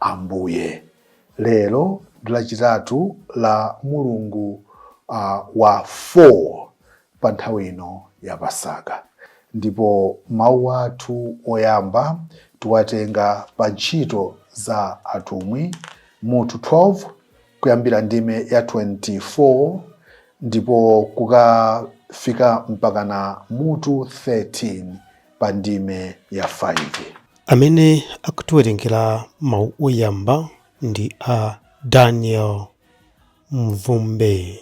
Ambuye. Lero ndi Lachitatu la mulungu uh, wa 4 pa nthawi ino ya Pasaka, ndipo mawu athu oyamba tiwatenga pa ntchito za atumwi mutu 12 kuyambira ndime ya 24 ndipo kukafika mpakana mutu 13 pa ndime ya 5. Amene akutiwerengera mawu oyamba ndi a Daniel Mvumbe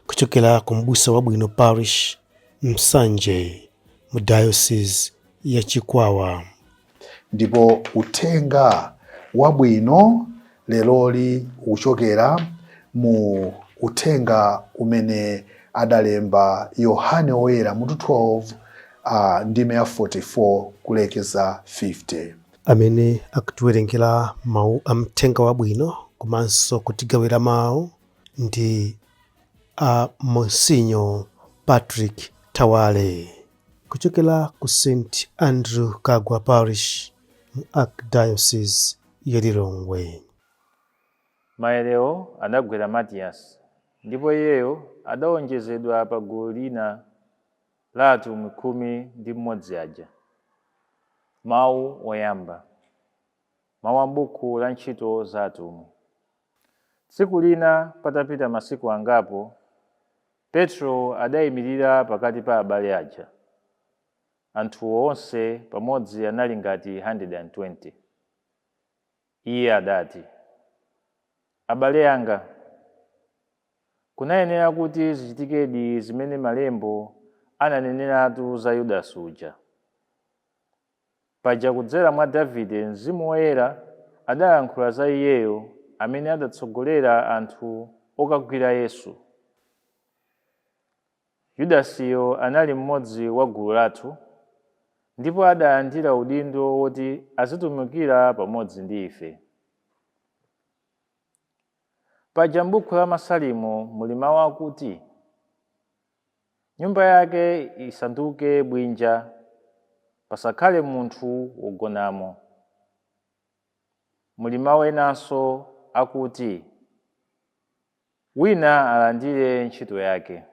kuchokera ku M'busa Wabwino Parish, Nsanje, mu Diocese ya Chikwawa. Ndipo uthenga wabwino leroli uchokera mu uthenga umene adalemba Yohane Woyera mutu 12 a ndime ya 44 kulekeza 50. Amene akutiwerengera mawu a Mthenga Wabwino komanso kutigawira mawu ndi a Monsinyo Patrick Thawale. Kuchokera ku St Andrew Kaggwa Parish mu Archdiocese ya Lilongwe. Maerewo adagwera Matiyasi, ndipo iyeyo adaonjezedwa pa gulu lija la atumwi khumi ndi mmodzi aja. Mawu oyamba. Mawu a m'buku la Ntchito za Atumwi. Tsiku lina patapita masiku angapo, Petro adaimirira pakati pa abale aja. Anthu onse pamodzi anali ngati 120. Iye adati, Abale anga, kunayenera kuti zichitikedi zimene Malembo ananeneratu za Yudasi uja. Paja kudzera mwa Davide Mzimu Woyera adayankhula za iyeyo amene adatsogolera anthu okagwira Yesu. Yudasiyo anali mmodzi wa gulu lathu, ndipo adalandira udindo woti azitumikira pamodzi ndi ife. Paja m'buku la Masalimo muli mawu akuti. Nyumba yake isanduke bwinja, pasakhale munthu wogonamo. Muli mawu enanso akuti, Wina alandire ntchito yake.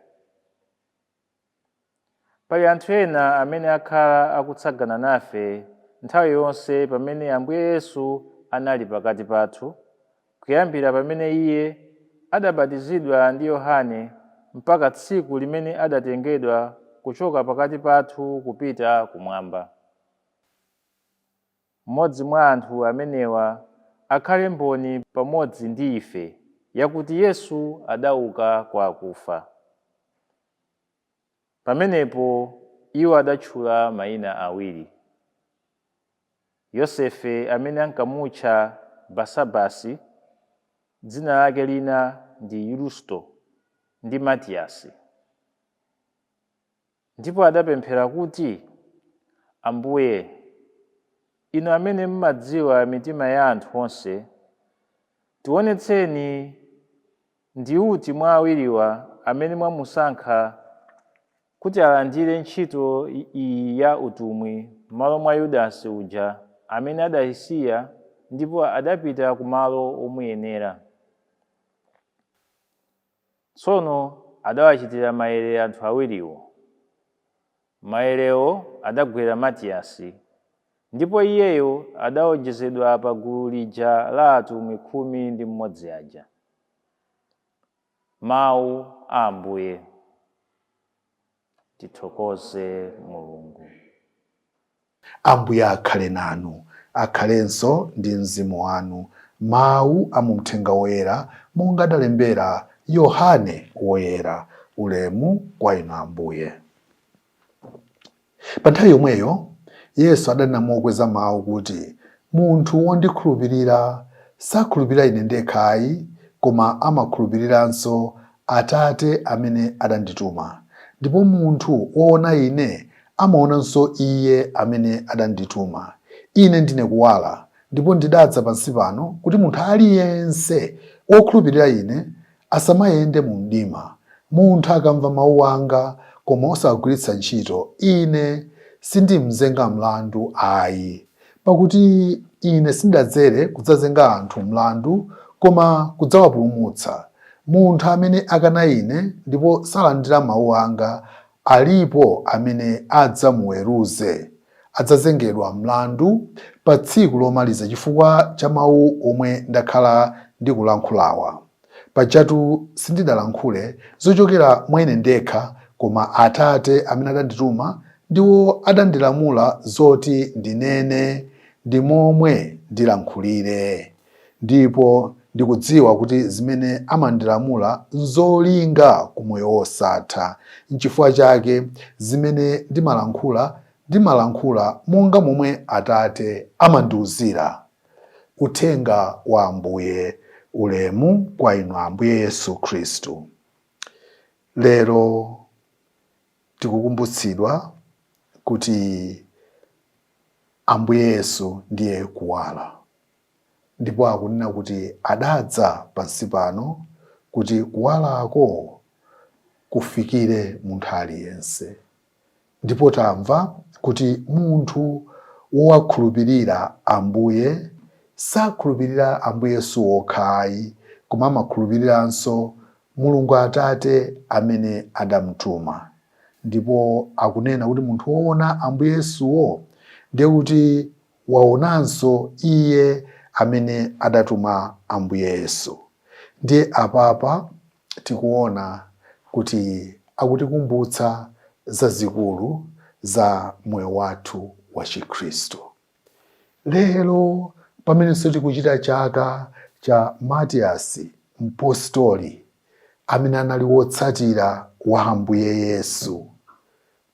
Pali anthu ena amene akhala akutsagana nafe nthawi yonse pamene Ambuye Yesu anali pakati pathu, kuyambira pamene iye adabatizidwa ndi Yohane mpaka tsiku limene adatengedwa kuchoka pakati pathu kupita kumwamba. Mmodzi mwa anthu amenewa akhale mboni pamodzi ndi ife yakuti Yesu adauka kwa akufa. Pamenepo iwo adatchula maina awiri, Yosefe amene ankamutcha Basabasi, dzina lake lina ndi Yusto, ndi Matiyasi. Ndipo adapemphera kuti, Ambuye, Inu amene mmadziwa mitima ya anthu onse, tiwonetseni Ndi uti mwa awiriwa amene mwamusankha kuti alandire ntchito iyi ya utumwi m'malo mwa Yudasi uja amene adaisiya ndipo adapita ku malo omuyenera? Tsono adawachitira mayere anthu awiriwo. Mayerewo adagwera Matiyasi, ndipo iyeyo adaonjezedwa pa gulu lija la atumwi khumi ndi mmodzi aja. Mawu a Ambuye. Tithokoze Mulungu. Ambuye akhale nanu. Akhalenso ndi mzimu wanu. Mawu a mu Mthenga Woyera monga adalembera Yohane Woyera. Ulemu kwa Inu Ambuye. Pa nthawi yomweyo Yesu adanena mokweza mawu kuti, Munthu wondikhulupirira, sakhulupirira Ine ndekhayi, koma amakhulupiriranso Atate amene adandituma, ndipo munthu woona Ine amaonanso Iye amene adandituma. Ine ndine kuwala, ndipo ndidadza pansi pano kuti munthu aliyense wokhulupirira Ine asamayende mu mdima. Munthu akamva mawu anga koma osagwiritsa ntchito, Ine sindim'zenga mlandu ayi. Pakuti Ine sindadzere kudzazenga anthu mlandu, koma kudzawapulumutsa. Munthu amene akana Ine ndipo salandira mawu anga, alipo amene adzamuweruze. Adzazengedwa mlandu pa tsiku lomaliza chifukwa cha mawu omwe ndakhala ndikulankhulawa. Pajatu sindidalankhule zochokera mwa ine ndekha, koma Atate amene adandituma ndiwo adandilamula zoti ndinene ndi momwe ndilankhulire. Ndipo ndikudziwa kuti zimene amandilamula nzolinga ku moyo wosatha. Nchifukwa chake zimene ndimalankhula, ndimalankhula monga momwe Atate amandiwuzira. Uthenga wa Ambuye Ulemu kwa Inu Ambuye Yesu Khristu Lero tikukumbutsidwa kuti Ambuye Yesu ndiye kuwala ndipo akunena kuti adadza pansi pano kuti kuwalako kufikire munthu aliyense. Ndipo tamva kuti munthu wowakhulupirira Ambuye sakhulupirira Ambuye Yesu wokha ayi, koma amakhulupiriranso Mulungu Atate amene adamtuma. Ndipo akunena kuti munthu woona Ambuye Yesuwo, ndiye kuti waonanso Iye amene adatuma Ambuye Yesu. Ndiye apapa tikuona kuti akutikumbutsa zazikulu za moyo wathu wa Chikhristu. Lero pamenenso tikuchita chaka cha Matiyasi Mpostoli amene anali wotsatira wa Ambuye Yesu,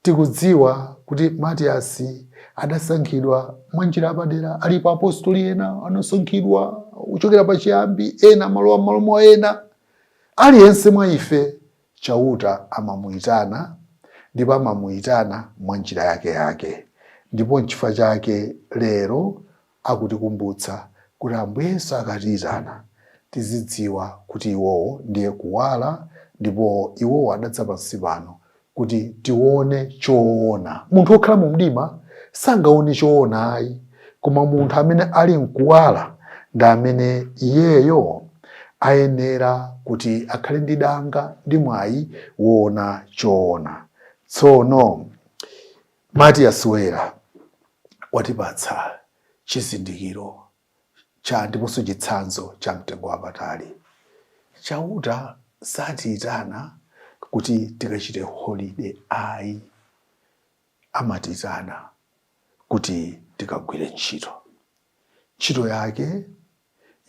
Tikudziwa kuti Matiyasi adasankhidwa mwa njira yapadera. Alipo apostoli ena anasankhidwa kuchokera pa chiyambi, ena amalowa m'malo mwa ena. Aliyense mwa ife Chauta amamuyitana ndipo amamuyitana mwa njira yakeyake. Ndipo nchifukwa chake lero Akutikumbutsa kuti Ambuye Yesu akatiitana, tizidziwa kuti iwowo ndiye kuwala ndipo iwowo adadza pansi pano kuti tione choona. Munthu wokhala mu mdima sangaone choona ayi, koma munthu amene ali mkuwala ndi amene iyeyo ayenera kuti akhale ndi danga ndi mwayi woona choona. Tsono Matiyasi Woyera watipatsa chizindikiro cha ndiponso chitsanzo cha mtengo wapatali. Chauta satiitana kuti tikachite holiday ayi, amatiitana kuti tikagwire ntchito. ntchito yake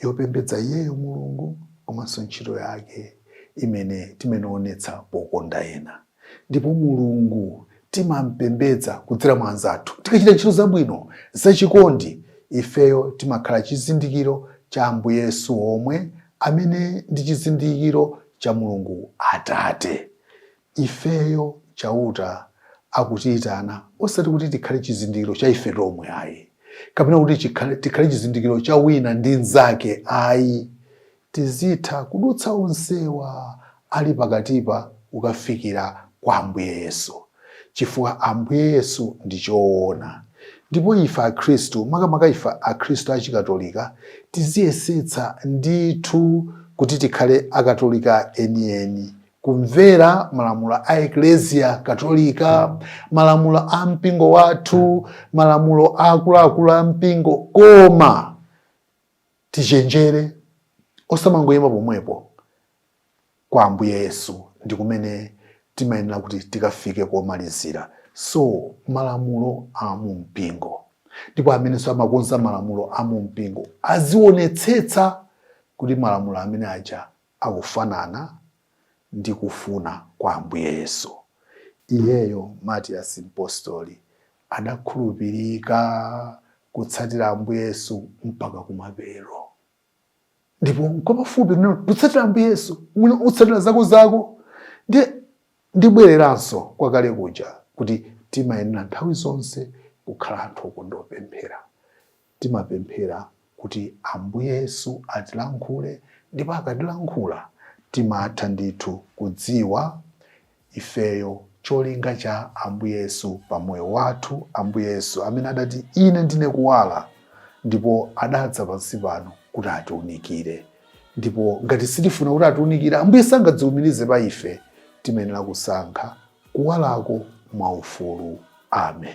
yopembedza iyeyo mulungu komanso ntchito yake imene timawonetsa pokonda ena ndipo mulungu timampembedza kudzera mwa anzathu tikachita ntchito zabwino zachikondi ifeyo timakhala chizindikiro cha ambuye yesu omwe amene ndi chizindikiro cha mulungu atate Ifeyo Chauta akutiitana osati kuti tikhale chizindikiro cha ife tomwe ayi, kapena kuti tikhale chizindikiro cha wina ndi mnzake ayi. Tizitha kudutsa onsewa ali pakatipa kukafikira kwa Ambuye Yesu, chifukwa Ambuye Yesu ndi choona. Ndipo ife akhristu, makamaka ife akhristu a Chikatolika, tiziyesetsa ndithu kuti tikhale akatolika enieni. kumvera malamulo a ekleziya katolika malamulo a mpingo wathu malamulo a akuluakulu a mpingo koma tichenjere osamangoyima pomwepo kwa ambuye yesu ndi kumene timayenera kuti tikafike komalizira so malamulo a mu mpingo ndipo amenenso amakonza malamulo a mu mpingo azionetsetsa kuti malamulo amene aja akufanana ndi kufuna kwa Ambuye Yesu. Iyeyo, Matiyasi Mpostoli, adakhulupirika kutsatira Ambuye Yesu mpaka kumapeto. Ndipo nkwapafupi kunena utsatira Ambuye Yesu, mwina utsatira zako zako. Ndiye ndibwereranso kwa kale kuja kuti timayenera nthawi zonse kukhala anthu okonda kupemphera. Timapemphera kuti Ambuye Yesu atilankhule ndipo akatilankhula timatha ndithu kudziwa ifeyo cholinga cha Ambuye Yesu pa moyo wathu. Ambuye Yesu amene adati ine ndine kuwala ndipo adadza pansi pano kuti atiunikire ndipo ngati sitifuna kuti atiunikire Ambuye sangadziumirize pa ife timayenera kusankha kuwalako mwaufulu. Amen.